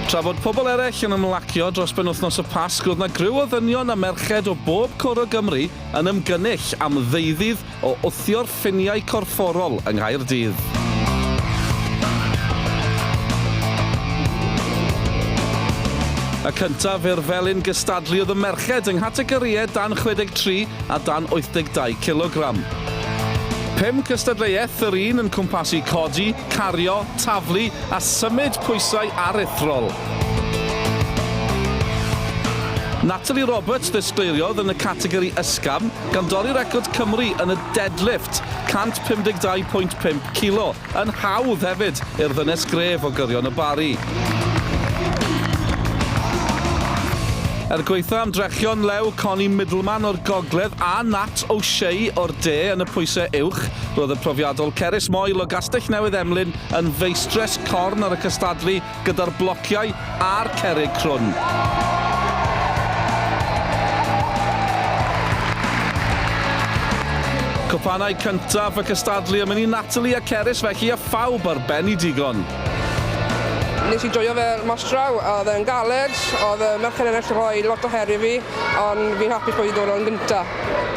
Tra bod pobl eraill yn ymlacio dros benwythnos y Pasg roedd 'na griw o ddynion a merched o bob cwr o Gymru yn ymgynnull am ddeuddydd o wthio'r ffiniau corfforol yng Nghaerdydd. Y cyntaf i'r felin gystadlu oedd y merched yng nghategorïau dan 63 a dan 82 cilogram. Pum cystadleuaeth, yr un yn cwmpasu codi, cario, taflu a symud pwysau aruthrol. Natalie Roberts ddisgleiriodd yn y categori ysgafn, gan dorri record Cymru yn y deadlift, 152.5 kilo. Yn hawdd hefyd i'r ddynes gref o gyrion y Barri. Er gwaetha ymdrechion lew Connie Middleman o'r gogledd a Nat O'Shea o'r de yn y pwysau uwch, roedd y profiadol Cerys Moyle o Gastell Newydd Emlyn yn feistres corn ar y cystadlu gyda'r blociau a'r cerrig crwn. Cwpanau cyntaf y cystadlu yn mynd i Natalie a Cerys felly a phawb ar ben i digon. Nes i joio fe mas draw, oedd e'n galed, oedd y merched yn gallu rhoi lot o her i fi, ond fi'n hapus bod fi wedi dod yn gynta.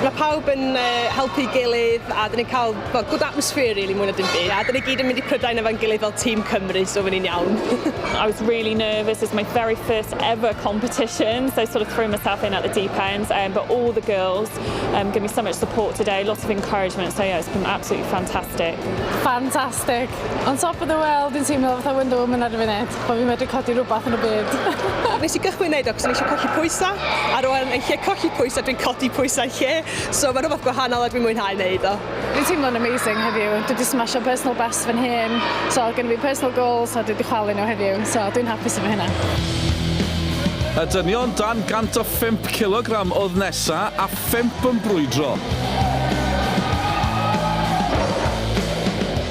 Mae pawb yn helpu'i gilydd a 'dyn ni'n cael Wel good atmosphere really mwy na dim byd. A 'dyn ni gyd yn mynd i Prydain efo'n gilydd fel tîm Cymru so fy'n ni'n iawn. I was really nervous, it's my very first ever competition so I sort of threw myself in at the deep end um, but all the girls um, gave me so much support today, lots of encouragement so yeah it's been absolutely fantastic. Fantastic! On top of the world yn teimlo fatha Wonder Woman ar y funud, bod fi'n medru codi rhywbeth yn y byd. Nes i gychwyn neud o cos o'n i eisiau colli pwysau, ar ôl yn lle colli pwysau dwi'n codi pwysau lle. So mae rhywbeth gwahanol a dwi'n mwynhau wneud o. Dwi'n teimlo'n amazing heddiw, dwi wedi smasho personal best fy nhîm, so gen i fi personal goals a dwi wedi chwalu nhw heddiw, so dwi'n hapus efo hynna. Y dynion dan 105 cilogram oedd nesa a phump yn brwydro.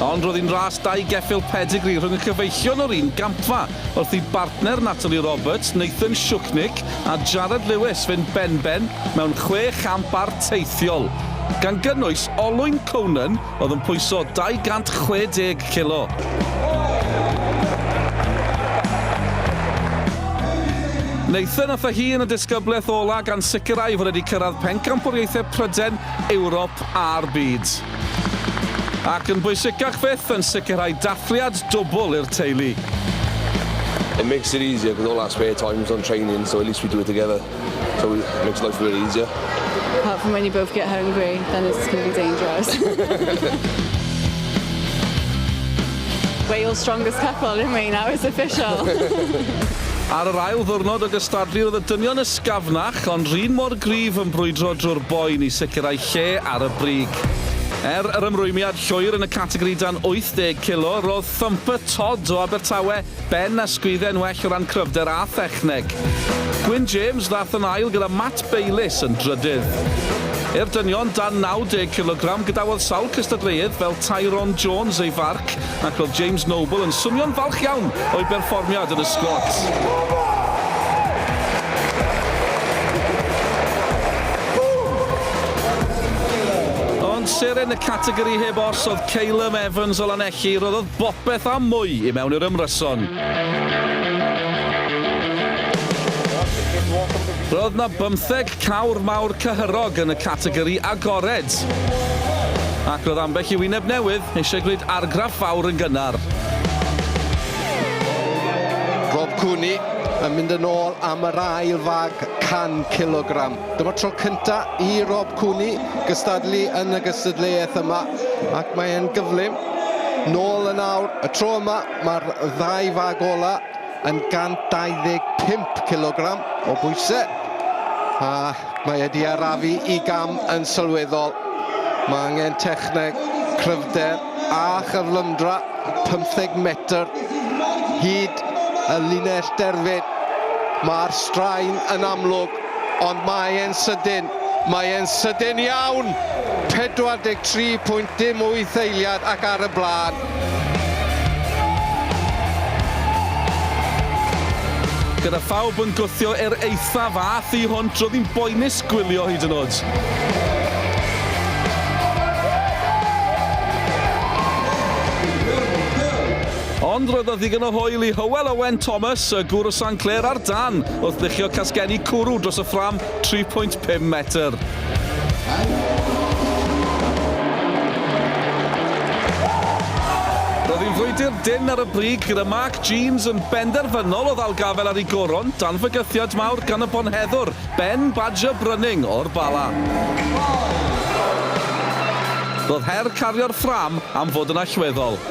Ond roedd hi'n ras dau geffyl pedigree rhwng y cyfeillion o'r un gampfa wrth i bartner Natalie Roberts, Nathan Shuchnick, a Jarrod Lewis fynd benben mewn chwe champ arteithiol, gan gynnwys olwyn Conan oedd yn pwyso 260 kilo. Nathan a Fahey yn y disgyblaeth ola' gan sicrhau fod wedi cyrraedd Pencampwriaethau Pryden, Ewrop a'r Byd. Ac yn bwysicach fyth, yn sicrhau dathliad dwbl i'r teulu. It makes it easier cos all our spare time's on training so at least we do it together so it makes life a bit easier. Apart from when you both get hungry then it's going to be dangerous. Wales strongest couple aren't we, now it's official. Ar yr ail ddiwrnod o gystadlu roedd y dynion ysgafnach ond r'un mor gryf yn brwydro drwy'r boen i sicrhau lle ar y brig. Er yr ymrwymiad llwyr yn y categori dan 80 kilo, roedd Thumper Todd o Abertawe ben a sgwydden well o ran cryfder a thechneg. Gwyn James ddaeth yn ail gyda Matt Bayliss yn drydydd. I'r dynion dan 90 kilogram, gadawodd sawl cystadleuydd fel Tyrone Jones ei farc Ac roedd James Noble yn swnio'n falch iawn o'i berfformiad yn y sgwad. seren y categori heb os oedd Calum Evans o Lanelli, roddodd bopeth a mwy i mewn i'r ymryson. Roedd na bymtheg Cawr mawr cyhyrog yn y categori agored. Ac roedd ambell i wyneb newydd eisiau gwneud argraff fawr yn gynnar. Rob Cooney yn mynd yn ôl am yr ail fag 100 cilogram. Dyma'r tro cyntaf i Rob Cooney gystadlu yn y gystadleuaeth yma ac mae e'n gyflym. Nôl yn awr, y tro yma mae'r ddau fag ola' yn 125 cilogram o bwysau a mae wedi arafu i gam yn sylweddol. Mae angen techneg, cryfder a chyflymdra 15 metr hyd y linell derfyn. Mae'r straen yn amlwg, ond mae e'n sydyn. Mae e'n sydyn iawn! 43.08 eiliad ac ar y blaen. Gyda phawb yn gwthio er eithaf a thu hwnt, roedd hi'n boenus gwylio hyd yn oed. Ond roedd 'na ddigon o hwyl i Hywel Owen Thomas, y gŵr o San Clair ar dân, wrth luchio casgenni cwrw dros y ffrâm tri phwynt pum metr. Roedd hi'n frwydr dynn ar y brig gyda Mark Jeans yn benderfynol o ddal gafael ar ei goron dan fygythiad mawr gan y bonheddwr, Ben Badger Brunning o'r Bala. Roedd her cario'r ffrâm am fod yn allweddol.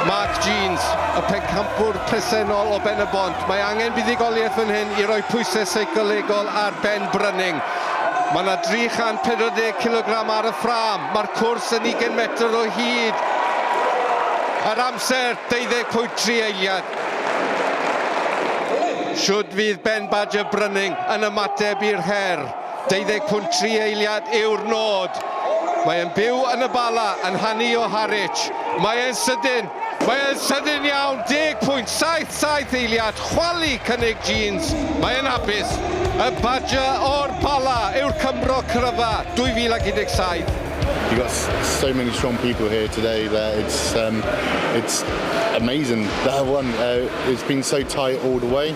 Mark Jeans, y pencampwr presennol o Ben-y-bont. Mae angen buddugoliaeth fan hyn i roi pwysau seicolegol ar Ben Brunning. Mae yna 340 kilogram ar y ffrâm. Mae'r cwrs yn 20 metr o hyd. Yr amser, 20.3 eiliad. Shwd fydd Ben Badger Brunning yn ymateb i'r her? 20.3 eiliad yw'r nod. Mae e'n byw yn y Bala, yn hanu o Harwich. Mae e'n sydyn! Mae e'n sydyn iawn! 10.77 eiliad, chwalu cynnig Jeans. Mae e'n hapus! Y Badger o'r Bala yw'r Cymro cryfa 2017. You've got so many strong people here today that it's um, it's amazing that I won. Uh, it's been so tight all the way.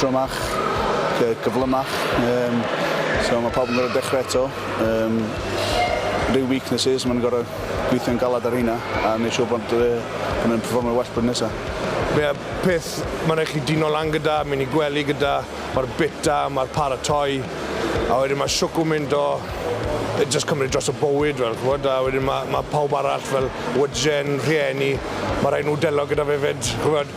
drymach, gyflymach, yym so ma' pawb yn gor'o' dechre eto, yym ryw weaknesses ma' nw'n gor'o' gweithio'n galad ar rheina a neu' siŵr bod yy bo' nw'n perfformio well blwyddyn nesa. Mae'r peth ma' rai' chi dino lan gyda, myn' i gwely gyda, ma'r bita, ma'r paratoi, a wedyn ma' shwcw mynd o yy jyst cymryd dros y bywyd fel ch'mod a wedyn ma' ma' pawb arall fel wyjen, rhieni, ma' rai' nw delio gyda fe 'fyd ch'mod?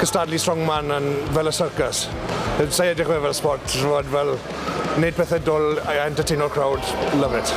cystadlu strongman yn fel y syrcas. Sa i edrych fe fel sport, ch'mod fel neud pethe dwl a entertaino'r crowd, love it.